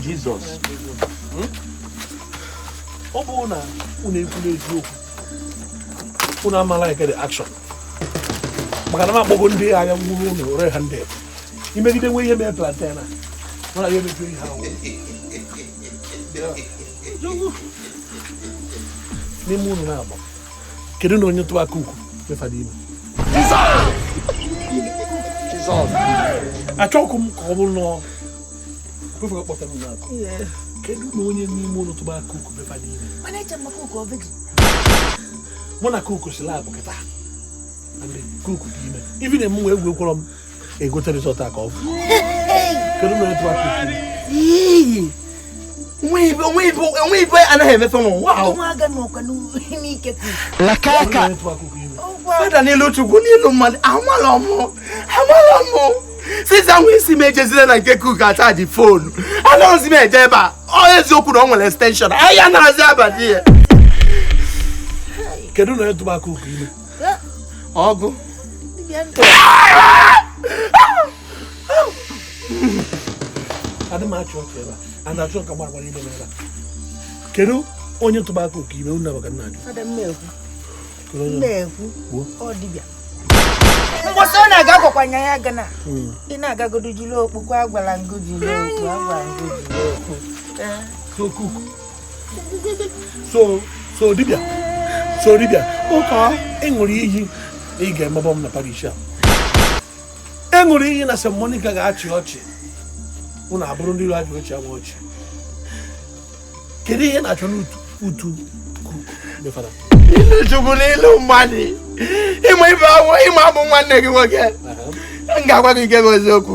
Jizọs ọ bụrụ na unu ekwu n'eziokwu unu amala eke the action maka na m akpọgo ndị aya nwuru ụlọ ore ha ndị imegide nwe ihe mee plantain a mụ na ya emejuo ihe ahụ n'ime unu na-agba kedu na onye tụwa kuku be fada ime achọghị m ka ọ bụrụ na prọfesọ kpọtara m n'aka kedu na onye n'ime unu tụba kuku be fada ime mụ na kuku si lab kịta kuku dị ime ibi na-eme nwa egwu ekwọrọ m egote result a ka ọ fụ kedu onye tụwa kuku onwe ibe anaghị emefe n'ụwa ahụ lakaka fada n'ilu chukwu n'ilu mmadụ amarọ mụ amarọ mụ since a nwa isi m ejezirọ na nke kuku achaji phone anaghịzi m eje ebe a ọ eziokwu na ọ nwere extension ahịa na-azị abalị ya kedu onye tụba kuku ime ọgụ adị m achị ọchị ebe a na-achọ ka gbara gbara ime n'ebe a kedu onye tụba kuku ime unu abaka nna ajụ mgbọsị ọ na-aga gwakwa nya ya gana hmm. ị na-agagodo jiri okpu agwala ngo jiri okpu agwala ngo jiri okpu so so dibịa so dibịa okay ị ṅụrụ iyi na ị ga-emebọ m na parish a ị ṅụrụ iyi na St. Monica ga-achị ọchị unu abụrụ ndị iro ajụ ọchị ama ọchị kedu ihe na-achọ n'utu m fada ilu chukwu n'ilu mmadụ ị ma ife awụ ị ma abụ m nwanne gị nwoke m ga-agwa gị nke bụ eziokwu